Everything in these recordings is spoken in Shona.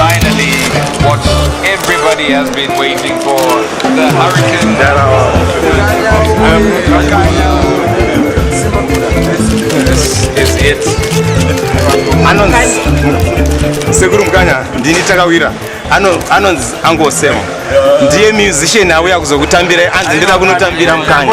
Finally, what everybody has been waiting for, the hurricane. This is it. Anonzi Sekuru Mkanya ndini takawira anonzi angosema ndiye musician auya kuzokutambirai anzi ndida kunotambira Mkanya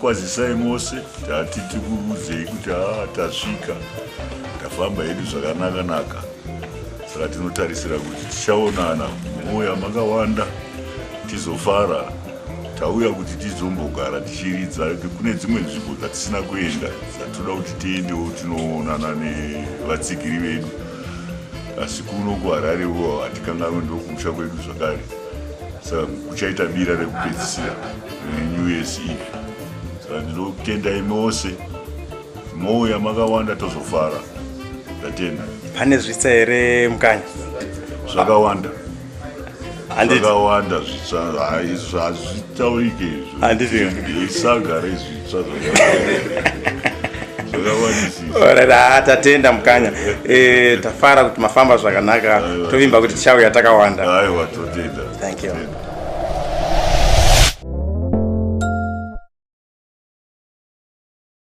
kwazisai mose tati tikuudzei kuti haa tasvika tafamba hedu zvakanaka naka saka tinotarisira kuti tichaonana mouya makawanda tizofara tauya kuti tizombogara tichiridza kune dzimwe nzvimbo dzatisina kuenda dzatinoda kuti tiendewo tinoonana nevatsigiri vedu asi kuno kuharare wo hatikanganwe ndokumusha kwedu zvakare saka kuchaita bira rekupedzisira renew years eve saka ndinotenda imi ose mouya makawanda tozofara ndatenda pane zvitsa here mukanya zvakawanda zvakawanda zvitsva hazvitaurike izvo handiziisaga rezvitsva ah, tatenda mukanya eh, tafara kuti mafamba zvakanaka tovimba kuti tichauya takawanda thank you